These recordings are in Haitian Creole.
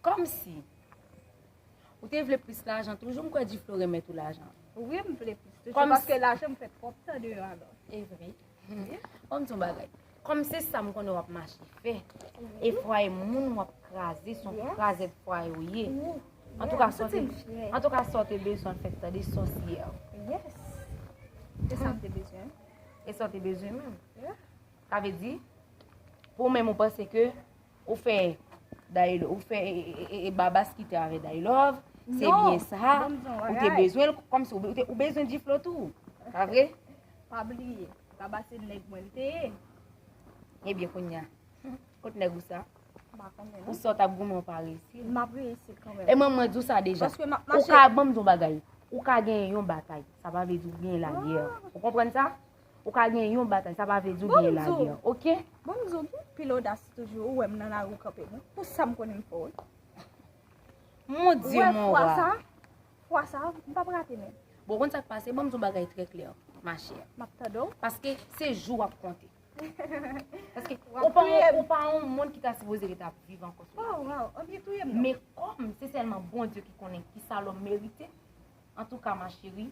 Komsi Ou te vle plis lajan toujou m kwè Duflo remet ou lajan. Wi m vle plis toujou paske lajan m fè twòp tan deyò a lò. E vre. Bon m di w yon bagay. Kòm se sa m konnen w ap mache fè e fwaye moun w ap kraze son krazèt fwaye ou ye. Antouka sa w te bezwen fèt tande sòsyè. Yes. Se sa m te bezwen. E sa w te bezwen menm. Sa vle di pou ou menm ou panse ke. Ou fè Dailove, ou fè e Babas ki te avè Dailove, se byen sa, ou te bezwen l, kòm si ou bezwen Diflo tou, pa vre? Pa bliye, Babas se nèg mwen l te ye. E byen kounya, kot nèg ou sa? Pa konnen. Ou sa w t ap goumen ou pa reyisi? M ap reyisi kanmèm. E man mwen di w sa deja. Paske m ap mache. Ou ka, banm di w yon bagay, ou ka gen yon batay, sa pa vle di ou gen lagè. Ou konprann sa? Ou ka gen yon batay, sa pa vle di ou genyen lagè, ok? Bon mzou, bon mzou, pil odas toujou, ou wèm nan la rou kanpe mwen, pou sa m konnen m fò wè. Mon Dieu, mon roi. Ou wè fwa sa, fwa sa, m pa prate men. Bon, konn sa k pase, bon mzou bagay trè klè, ma chè. M ap tande w. Paske se jou wap konte. Paske ou pa yon, ou pa yon moun ki ta sipoze ki ta viv ankò. Waw, waw, an byen touye m nan. Men kòm se sèlman bon Dieu ki konnen ki sa lòm merite, antouka ma chérie,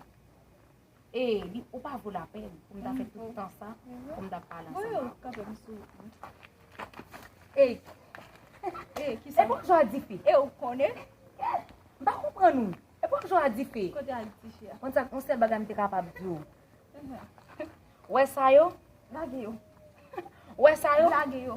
E li ou pa vo la pen pou m ta fè tout tan sa pou m ta pale ansan. Voye ou kanpe m sou. E. E ki sa. E pou m jwa di fi. E ou konnen. E. M pa konpran nou. E pou m jwa di fi. Kote a di fi a. Kon sa kon sel bagay m te kapab di ou. Wè sa yo. Lage yo. Wè sa yo. Lage yo.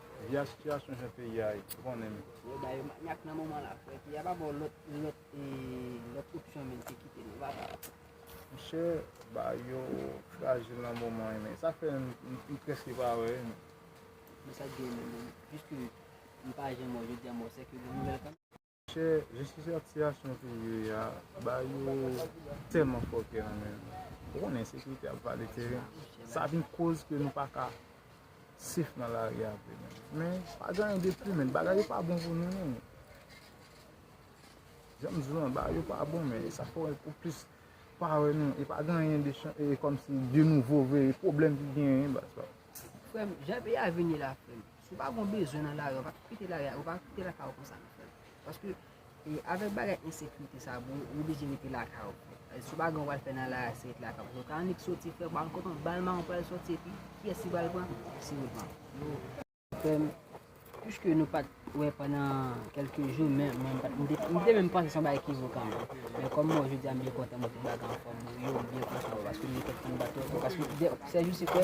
Via situation jan peyi a ye ou konnen m. Yo ba yo manyak nan moman la frè peyi a pa baw lòt lòt lòt opsyon menm ke kite nou va ba yo. Monchè ba yo frajil nan moman an men sa fè m preske pa wè yo menm. Men sak diw menm jis ke m pa jwenn mò jodi a mò sèke gen nouvèl kanmenm. Chè jistis ak siyasyon peyi a ba yo tèlman fòkè nan men nou. Ou konnen ensekirite ap vale teren. Sa vin koz ke nou pa ka sef nan lari a vre menm. Men, pa gen anyen de pli menn. Bagay yo pa bon pou nou non. Jan m di nou an, bagay yo pa bon men. Sa fè ou plis pa wè nou. E pa gen anyen de chan, e kòm si de nouvo vre. E pwoblèm ki genyen baz pa. Frè m, jan peyi a vini la frè m. Si w pa gon bezwen nan lari a, ou pa kite lari a, ou pa kite lakay ou konsa nan frèm. Paske, avèk bagay ensekirite sa, bro, ou oblije rete lakay ou. Si w pa gon w pral fè nan lari a, se rete lakay ou. Paske, ka annik soti frèm, pa annik kontan, bal mawon pral soti epi, kiyès ki pral pran? Se ou l pran. Frèm, piske nou pat wè pandan kèlke jou, men, mwen pat, mwen te menm panse se yon bagay ki vokan mwen. Men, kòm mwen jodi a m byen kontan, mwen tout bagay anfòm, yo, m byen kontan, paske m gen kèk tann bat yo, paske, sè jou se kwè,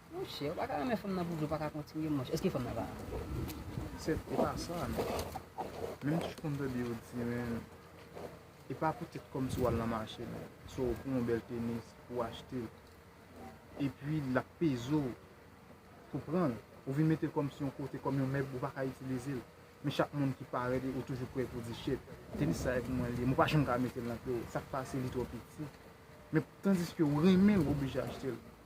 Monchè ou paka renmen fanm nan pou di ou paka kontinye monchè eske fanm nan pa Se epa sa non Men m toujou konn tande yo di men Epa poutèt kòmsi wal nan mache non So ou pran yon bèl tenis ou achte l Epi lap peze w Pou pranl Ou vin mete l kòmsi yon kote kòm yon mèb ou paka itilize l Men chak moun ki parèt ou toujou prè pou di shit Tenis sa e pou mwen li ye men ou pa janm ka metel nan pye w Sak pase li twò piti Men tandiske ou renmen l ou oblije achte l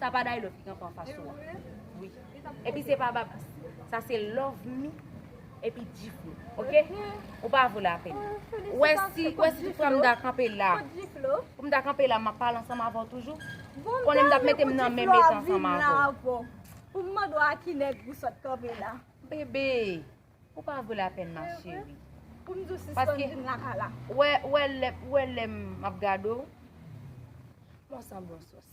Sa pa Daylo ki kanpe anfas ou a wi Epi se pa Babs Sa se Lovemy epi Djiflo ok Ou pa vo lapèn Ou wè si tout fwa m ta kanpe la Pou m ta kanpe la m ap pale ansanm avè w toujou Ou konnen m t ap mete m nan menm eta ansanm avè w Pou m mande w a ki nèg ou sot kanpe la Bebe Ou pa vo lapèn ma cheri Pou m di w sispann di m lakay la Ou wè lè m ap gade w Bon sanble w sòsyè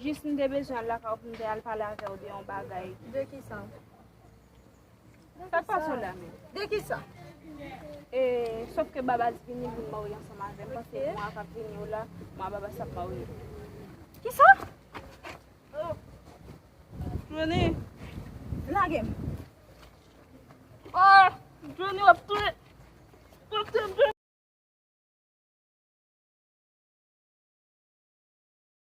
Jis m te bezwen al lakay w pou m te al pale avè w de yon bagay. De kisa? Sak pase w la menm? De kisa? E, sof ke Babas vini pou l marye ansanm avè m paske mwa k ap vini yo la, mwen ak Babas ap marye. Kisa? Oh! Jwenny! Lage m! Oh! Jwenny w ap touye m! W ap touye m Jwenny!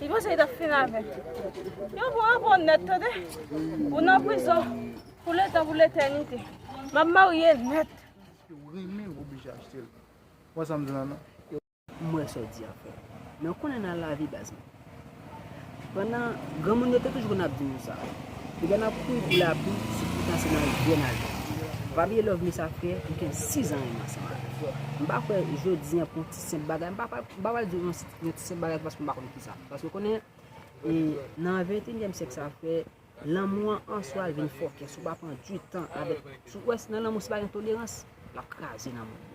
Li panse li ta fin avè. Yo pou an bon net tande. Ou nan prizon pou le tan pou le tenite. Map marye net. Yo renmen ou oblige achte. Ou an sa m di nan nan. M wè sa w di a frè. Men w konnen nan lavi baz mwen. Pandan granmoun yo te toujou konn ap di nou sa. Depi n ap kouri pou lapli se poutan se nan vyè n al jwenn li. Ou pa bliye love me sa frè m gen 6 an renmen ansanm avè w. M pa kwè jodi an pou yon ti senp bagay m pa pral di w yon ti senp bagay paske m pa konn kisa. Paske w konnen e nan ventenyèm syèk sa frè lanmou an an swa l vin fòkè si w pa pran di tan avèk. Si w wè nan lanmou si pa gen tolerans l ap kraze lanmou.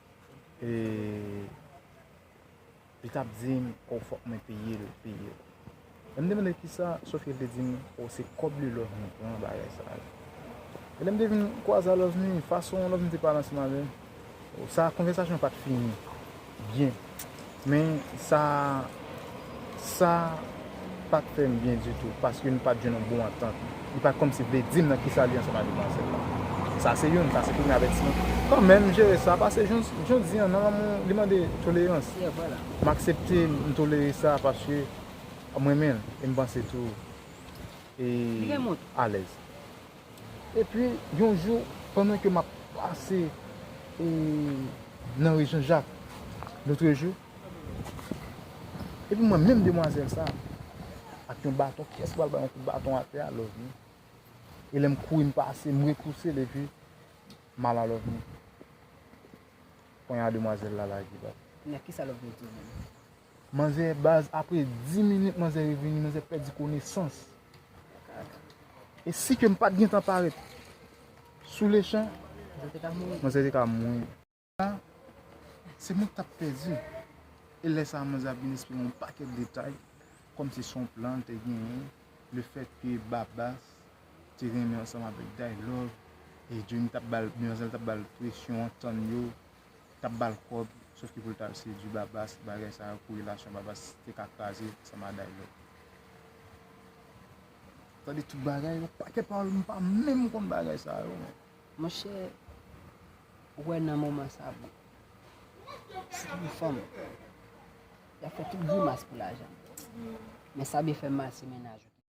e li tap dim oh fòk mwen peyel peyel lèm te mande kisa Sofie te dim oh se kòb li love me pran bagay sa yo e lèm te vin kwaze a love me fason love me te pale ansanm avèm sa konvèsasyon pat fini byen Men sa sa pat fè m byen ditou paske nou pat jwenn yon bon antant. Li pat kòmsi vle di m nan kisa li ansanm ak demwazèl la. Sa se youn, sa se premye avètisman. Kanmenm m jere sa pase jodi an nan lanmou li mande tolerans. M aksepte m tolere sa paske m renmen l e m panse tou li alèz. Epi yon jou pandan ke map pase nan rue Jean Jacques lotre jou, epi m wè menm demwazèl sa ak yon baton, kiyès ki pral bay yon kout baton atè a Lovni, e lèm kouri m pase m repouse l epi mala Lovni ponyade demwazèl la lage bat. Mèt kisa Lovni di w menm? Manzè baz apre 10 minit manzè revini manzè pèdi konesans e si kem pat gentan parèt sou lechan manzè te ka mouri. Sa se mwen ki tap pèdi e lè sa manzè ap vin esplike yon pakèt detay kòm se son plan li te genyen le fèt ke babas te renmen ansanm avèk daylove e Johnny tap bal manzè tap bal presyon antann yo tap bal kòb sof ki poul tal sedu babas bagay sa pou relasyon babas te ka kraze sa ma day love. Tande tout bagay yo paket pawol m pa menm konn bagay sa yo men. Monchè ou wè nan moman sa bon si te gen fanm yap fè tout grimas pou lajan men sa byen fè mal se mennaj ou ki.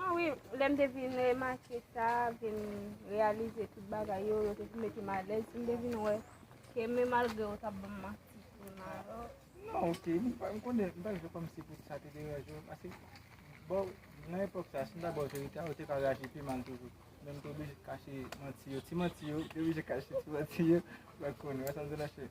Ah wi, lè m te vin remake sa, vin reyalize tout bagay yo, yo te vin mete m alèz, m te vin wè ke men malgre yo t ap ban m manti sou Maroc. Non ok, m pa konnen, m pa vle fè kòmsi pou sa te deranje w, paske bon, nan epòk sa, si m ta ba w verite a, ou te ka reyaji pi mal toujou. Men m te oblije kache manti yo, ti manti yo, m te oblije kache ti manti yo, ou pa konn, ou wè sa m di la cheri?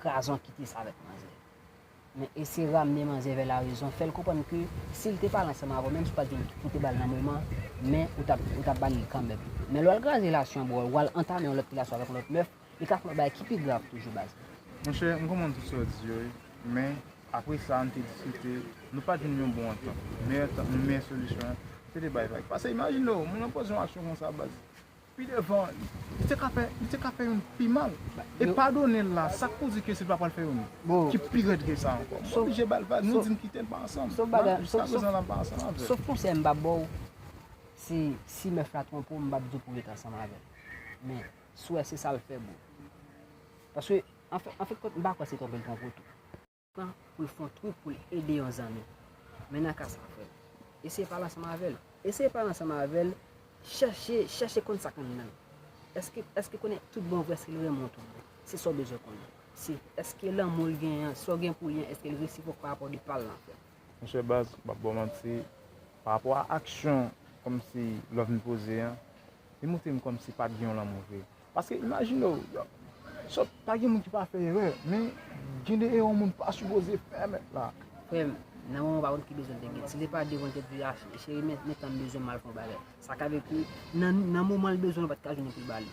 Krazon kite sa avèk manzè. Men eseye ramne manzè vè la rezon, fèl konprann ke si li te pale ansanm avèw menm si ou pat gen pou te bal nan moman, men ou tap ou tap bali li kanmèm. Men lè wal kraze relasyon an bro, wal antame yon lòt relasyon avèk yon lòt mèf, li ka fè yon bagay ki pi grav toujou baz. Monchè m konprann tout sa w di yo wi men apre sa nou te diskite nou pat jwenn yon bon antant meyè antant nou meyè solisyon se te bay vag pase imajine w moun lan poze yon aksyon konsa baz Pi devan, li te ka fè, li te ka fè youn pi mal. E padone l la, sa k pou di ke si l pa pral fè youn ki pi rèd ke sa ankò? M oblije ba l vag, nou di n kite n pa ansanm. Jiska prezan la m pa ansanm avè l. Sof konsèy m ba ba w, se si mèf la twonpe w, m pa p di w pou w ret ansanm avè l. Men, si w wè se sa l fè, bon. Paske, anfèt, anfèt kont, m pa kwè se twonpe l twonpe w tou. Tan pou l fon twou pou l ede yon zanmi. Men nan ka sa frè m. Eseye pale ansanm avè l. Eseye pale ansanm avè l, chèche, chèche konn sa k anndan l. Èske, èske konnen tout bon vre si l renmen w tout bon? Se sa w bezwen konnen. Se, èske lanmou l genyen an, sa w gen pou li an, èske l resipwòk pa rapò de pa l lan frè m? Monchè baz, m p ap ba w manti, pa rapò a aksyon kòmsi love nou poze an, Li montre m kòmsi pa t gen yon lanmou vre. Paske imajine w, sòt, pa gen moun ki pa fè erè, men gen de erè yon moun pa sipoze fè mèt la. Frè m, nan moman w pa konn ki bezwen w te gen, si se pa devan tèt li a, cheri men tan m bezwen m al fè yon bagay. Sa ka vle di, nan moman l bezwen l pa t ka jwenn l pou l ba li.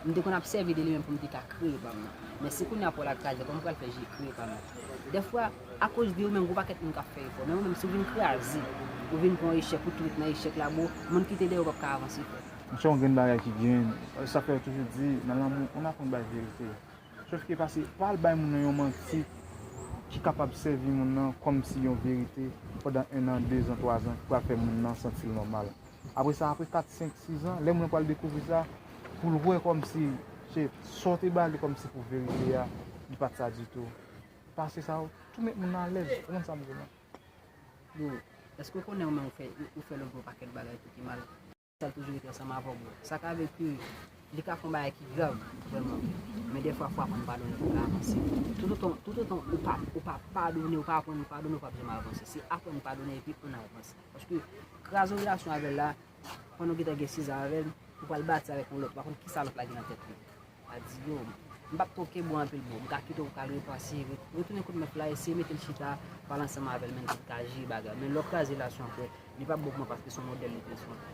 M te konn ap sèvi de li menm pou m te ka kreye pa m nan. Men si kounye a pòl ak kraze, kòman m pral fè je kreye pa m nan? Dèfwa, akoz de ou menm, gen yon pakèt moun k ap fè efò, men ou menm, si w vin kraze, ou vin pran yon echèk, ou tou ret nan echèk la, bro, moun ki te dèyè w pap ka avanse fè. Monchè yon grenn bagay ki grenn, se sa k fè yo toujou di, nan lanmou, moun aprann bay verite. Sof ke pase, pa al bay moun nan yon manti ki kapab sèvi moun nan kòm si yon verite pandan ennan, dezan, twazan, ki pral fè moun nan santi l nòmal. Apre sa, apre 4, 5, 6 an, lè moun nan pral dekouvri sa, pou l wè kòm si se sa w te ba li kòm si pou verite a, li pa t sa ditou. Pase sa, ou tou met moun nan alèz. Ou konprann sa m di w la? Bro, èske ou konnen ou menm ou fè lòt yon pakèt bagay tou ki mal? Sa l toujou rete ansanm avè w, bro. Sa ka vle di, li ka fè yon bagay ki grav, vrèman vre. Men dèfwa fò w aprann padone pou w ka avanse. Toutotan ou pa padone, ou pa aprann padone, ou p ap janm avanse. Se aprann padone epi ann avanse. Paske kraze yon relasyon avèl la, pandan ou gentan gen 6 ans avèl, ou pral bati avèk yon lòt, pa konn kisa lòt la gen nan tèt li. Adio, m pap tronke bwa anpil bro, m ka kite w pou w al repanse, retounen kot mèt la, eseye mete l chita, pale ansanm avèl menm si l ka jere bagay. Men lè w kraze relasyon apre, li pap bon pou mwen paske son modèl li te sou.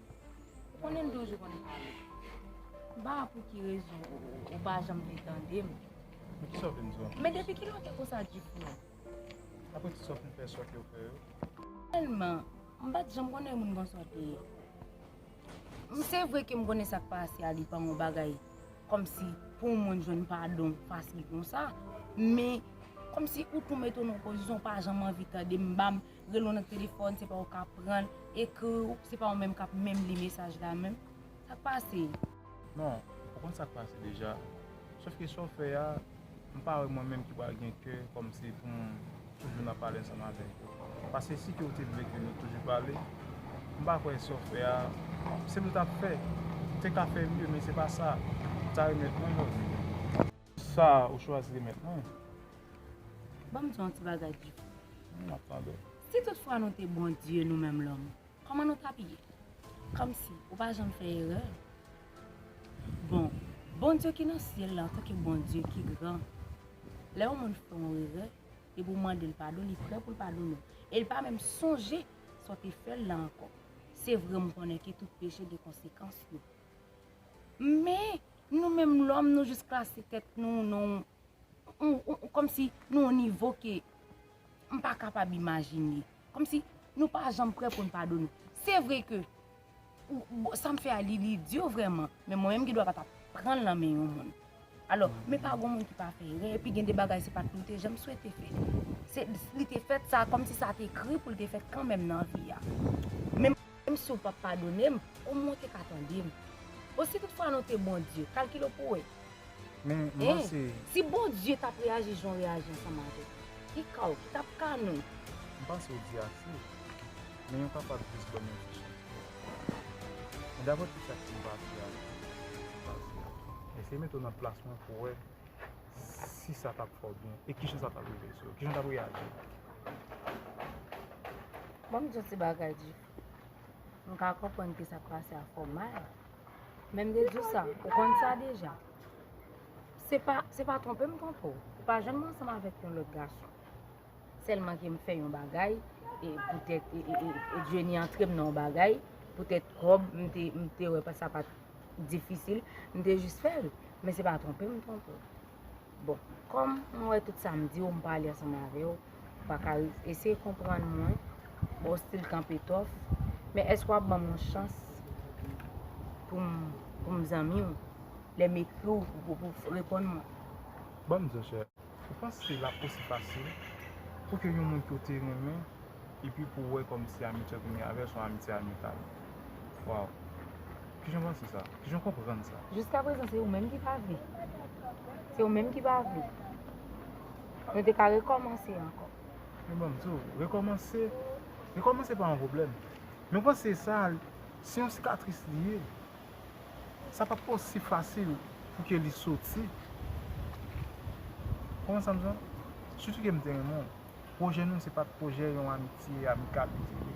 Ou konnen m toujou konn pale. M pa wè pou ki rezon ou pa janm vle tande m. Men kisa w vin di w anplis? Men depi kilè w te konsa di pou mwen? Apre ti sa w fin fè sòte w fè yo? Finalman, m pa t janm konnen moun bon sòte ye. Se vre ke m konnen sa k pase a li pa yon bagay kòmsi pou yon moun jwenn padon fasil konsa, men kòmsi ou tou mete w nan yon pozisyon ou pa janm anvi tande m, ba m. rele w nan telefòn se pa ou kap pran l, ekri w se pa ou menm kap menm li mesaj la menm, sak pase? Non, ou konn sak pase deja, sof ke sa w fè a, m pa wè mwen menm ki pral gen kè kòmsi pou m toujou nan pale ansanm avèk ou, paske si ke ou te vle ke nou toujou pale, m pa kwè sa w fè a, se sa ou tap fè, ou te ka fè mye men se pa sa, ou ta remèt mwen love you. Sa ou chwazi remèt mwen? Ban m di w yon ti bagay, Diko. M ap tande w. Si tout fwa nou te Bondye nou menm lòm, kòman nou t ap ye? Kòmsi ou pa janm fè erè? Bon, Bondye ki nan syèl la antanke Bondye ki gran, lè yon moun fè yon erè, depi ou mande l padon, li prè pou l padone w. E l pa menm sonje sa w te fè l la ankò. Se vre m konnen ke tout peche gen konsekans yo. Men! Nou menm lòm nou jis klase tèt nou nan yon kòm si nan yon nivo ke m pa kapab imajine. Kòm si nou pa janm prè pou n padone. Se vre ke sa m fè a li lidyo vrèman men mwen menm gen dwa pa ta pran l nan men yon moun. Alò, men pa gon moun ki pa fè erè epi gen de bagay se pa t nou te janm swete fè. Se li te fèt sa kòm si sa te ekri pou l te fèt kanmèm nan vi a. Menm si ou pap padone m, omwen ou te ka tande m. O si tout fwa nou te Bondye, kalkile w pou w wè. Men, mwen se. Si Bondye tap reyaji jan w reyaji ansanm avèk li, ki ka w, ki tap ka nou? M panse w di ase. Men yon papa ap jis ban nou ti chans pou nou fè sa. Men daprè tout sa ki gen pase a, ki pase a. Eseye mete w nan plas mwen pou w wè si sa tap fè w byen e kijan sa tap rive sou ou, kijan w tap reyaji. Bon m di w ti bagay di. M ka konprann ki sa k pase ak kò May. Men m te di w sa, ou konn sa deja. Se pa, se pa twonpe m twonpe w. Ou pa janm ansanm avèk yon lòt gason. Sèlman ke m fè yon bagay, e poutèt e, e, e Jenny antre m nan yon bagay, poutèt kòb, m te, m te wè sa pa t difisil, m te jis fè l. Men se pa twonpe m twonpe w. Bon, kòm m wè tout sa m di w, m pale ansanm avè w, ou pa ka eseye konprann mwen, ba w stil kanpe tòf, men èske w ap ban m yon chans pou m zanmi w, lè m ekri w pou w reponn mwen? Ban m di w chè, ou panse l ap osi fasil pou ke yon moun ke w te renmen epi pou w wè kòmsi amitye w genyen avè l se yon amitye amikal? Waw kijan panse sa kijan konprann sa. Jiska prezan se ou menm ki pa vle se ou menm ki pa vle nou te ka rekomanse anko. Mwen banm diw rekomanse rekomanse pa yon pwoblem mwen panse sa se yon sikatris li ye sa pap pa osi fasil pou ke li soti konprann sam di la sitou ke mte renmen w pwojè nou se pat pwojè yon amitye amikal li te ye.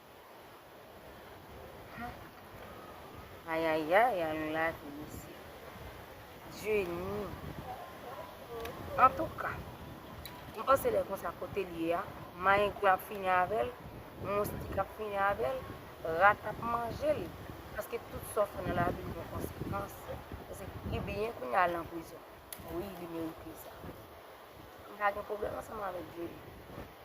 Ayayay al lavi mesye. Jenny. Antouka. M panse lè konsa kote l ye a, mayengri ap fini avè l, moustik ap fini avè l, rat ap manje l. Paske tout sa w fè nan lavi l gen konsekans. Ebyen kounya l nan prizon. Wi li merite sa. M pa gen pwoblèm ansanm avèk Jody.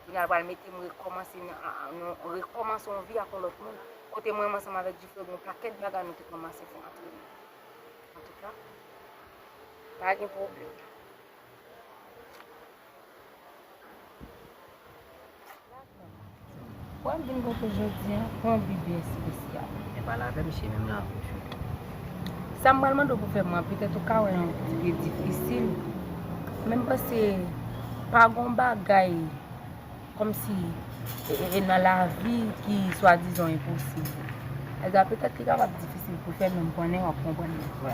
Kounye a l pral mete m rekòmanse nan, rekòmanse yon vi ak yon lòt moun. Kote mwen menm ansanm avèk Difre gen yon pakèt bagay nou te kòmanse fè antre nou. Antouka, m pa gen pwoblèm. Wap vin kontre jodi an pran bi byen espesyal. E pale avem cheri m la pou chou tou. Sam pral mande w pou fèm lan petèt ou ka wè yon ti pye difisil men m panse pa gon bagay komsi nan lavi ki swa dizan enposib alga petèt li kapab difisil pou fè men m konnen wap konprann mwen kwè.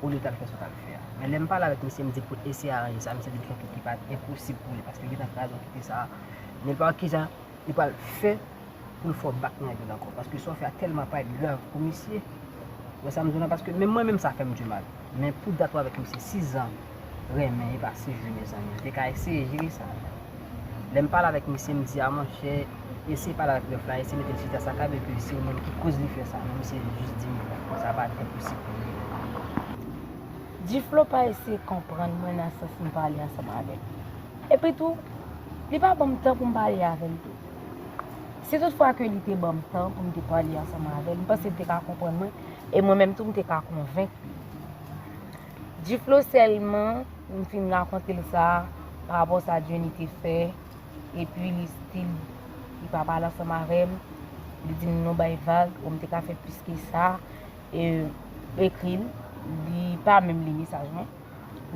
ou li tap fè sa w tap fè a. Men lè m pale avèk misye m di pou l eseye aranje sa, misye di l fè tout li pa enposib pou li paske li nan faz okipe sa a. Nenpòt kijan li pral fè pou l fè w bak nèg l ankò paske sa w fè a tèlman parèt grav pou misye. Ou wè sa m di w la paske menm mwen menm sa fè m dimal. Men pou dat ou avèk misye 6 zan. renmen e pa si jwi mezanmi. M te ka eseye jiri sa. Lè m pale avèk misye m di a monchè eseye pale avèk rèf la eseye mete l chita sa ka vle di se ou menm ki koz li fè sa men misye jis di m non sa pa enposib pou li menm. Duflo pa eseye konprann mwen nan sans m pale ansanm avè l. Epi tou li pa ban m tan pou m pale avè l tou. Si tout fwa ke li te ban m tan pou m te pale ansanm avè l m panse li te ka konprann mwen e mwen menm tou m te ka konvenk li. G-Flow sèlman m fin rakonte l sa pa rapò sa Jenny te fè epi li stil li pa pale ansanm avè m li di m nou bay vag bon m te ka fè plis ke sa ekri l li pa menm li mesaj mwen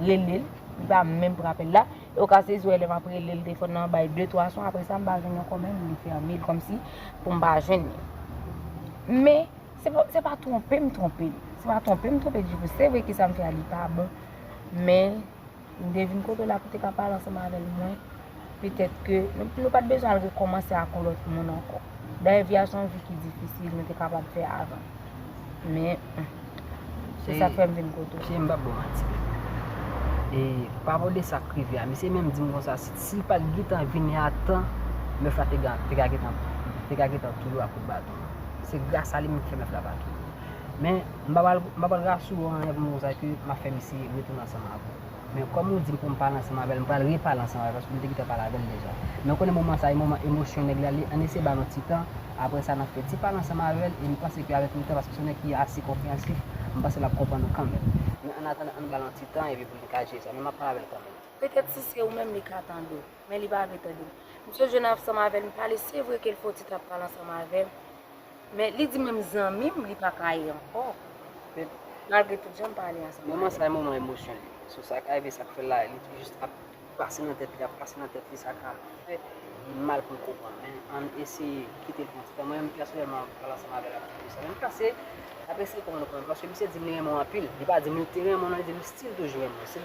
rele l li pa menm pran apèl la e ou ka sezi wè lè m ap rele l telefòn nan bay de twa son aprè sa m pa jwenn yon kòmèm li fèmen l kòmsi pou m pa jwenn li men Se pa twonpe m twonpe Se pa twonpe m twonpe Djibou Se vre kisa m fè a li pa bon Men m te vin kote w la pou te ka pale ansanm avè l mwen Petèt ke nou pa t bezwen al rekòmanse ak yon lòt moun ankò Dayè vi a se yon vi ki difisil nou te kapab fè avan Men Se sa k fè m vin kote w M p ap ba w manti E pawòl de sa k rive a Misye menm di m konsa Si l pa t gentan vini a tan Mèf la te ka gentan touye w ak kout baton Se gras a li menm ki fè mwen frape ak yo. Men, m pa pral, m pa pral rasire w anyen pou m di w sa ke m ap fè misye retounen ansanm avè w. Men, kòm ou di m pou m pale ansanm avè l, m pral repale ansanm avè l paske m te gentan pale avè l deja. Men ou konnen moman sa a e moman emosyon nèg la li, ann eseye ba l yon ti tan, aprè sa n ap fè ti pale ansanm avè l e m panse ke avèk le tan, paske se yon nèg ki ase konpreyansif, m panse l ap konprann nou kanmenm. Men, annatandan, ann ba l yon ti tan epi pou li ka jere sa. Men m ap pale avè l kanmenm. Petèt si se ou menm li ka tande w. Men li pa vle tande. Misye jwenn ansanm avè l, m pale, se vre ke l fè yon ti tan ap pale ansanm avè m. Men li di menm zanmi m, li pa ka ye ankò. Men malgre tout, jan m pale ansanm avè l. Moman sa e moman emosyon li. So sa ka rive, sa k fè l la a, li jis ap pase nan tèt li, ap pase nan tèt li, sa ka fè li mal pou l konprann. Men ann eseye kite l pran ti tan. Mwen menm pèsonèlman, m pale ansanm avè l ap di sa. Men m panse, l ap eseye konprann ou konprann. Paske misye di m li renmen w anpil. Li pa di m li te renmen w non, li di m li stil toujou renmen w.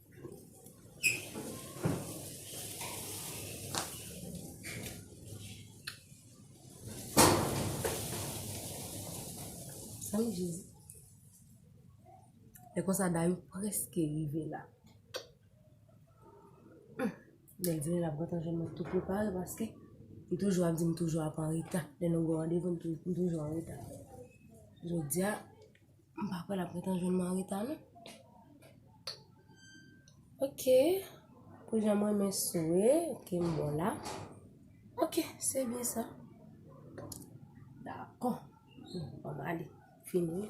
Salut Jésus. E konsa dayou preske rive la. Lèl di lèl ap rentan jèm mwen tout prepare paske li toujou ap di m toujou ap an reta. Lè nou gou randevou m toujou an reta. Jodia. M pa kwè l ap ret an jwenn Marita non. Ok, pou jan m renmen sore, ok m bon la. Ok, se byen sa. Dakò. Bon, an m ale. Fini.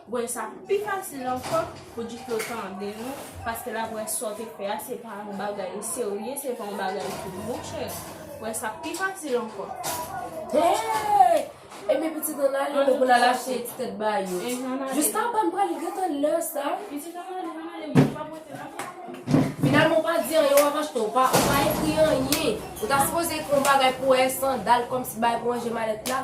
Bwè sa pi fasil ankò pou Diklo tande nou paske l ap wè sa w te fè a se pa yon bagay serye, se pa yon bagay tou. Monchè, bwè sa pi fasil ankò. Hey! Epi pitit an ale An nou pou l al achte ti tèt bayo. Enh, an ale. Jiskapa m pral gentan lè sa. Pitit an ale, an ale, mwen pa pote l ankò. Finalman ou pa di anyen, w ap achte, ou pa ekri anyen. Ou ta sipoze ekri yon bagay pou w achte sandal kòmsi bagay pou w ranje malèt la.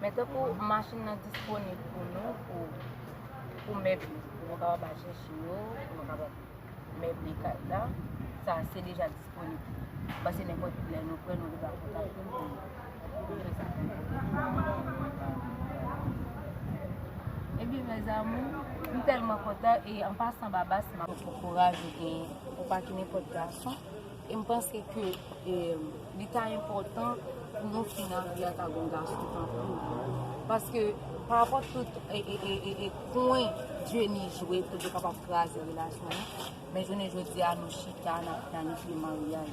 Men tankou machin nan disponib pou nou pou mèbli, pou nou kapab al chèche yo, pou nou kapab mèble kay la, sa se deja disponib. Pase nenpòt lè nou pran nou deja kontakte m pou nou fè sa pou nou. Ebyen mes amours, m tèlman kontan e an pasan Babas m ap. Pou kouraj ou genyen, ou pa ki nenpòt gason. E m panse ke li ta enpòtan pou nou fin ak Via ta gon gason tankou l. Paske parapò tout kwen Jenny jwe pou l te kapab kraze relasyon an, men jounen jodi a nou chita n ap planifye maryaj.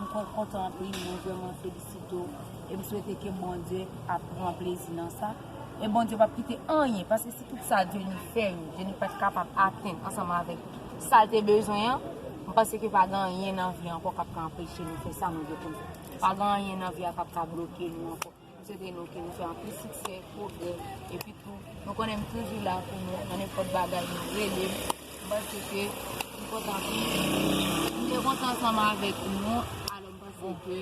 M kontan anpil, mwen vrèman felisite w e m swete ke Bondye ap pran plezi nan sa. E Bondye p ap kite anyen, paske si tout sa Jenny fè yo, Jenny pa t kapab atenn ansanm avèk. sa l te bezwen an, m panse ke pa gen anyen nan vi ankò k ap ka anpeche nou fè sa nou vle pou nou fè. Pa gen anyen nan vi a k ap ka bloke nou ankò. M swete nou ke nou fè anpil siksè, pwogrè, epi tou, nou konnen m toujou la pou nou nan nenpòt bagay nou rele m. M panse ke m kontan anpil. M te kontan ansanm avèk nou, alò m panse ke.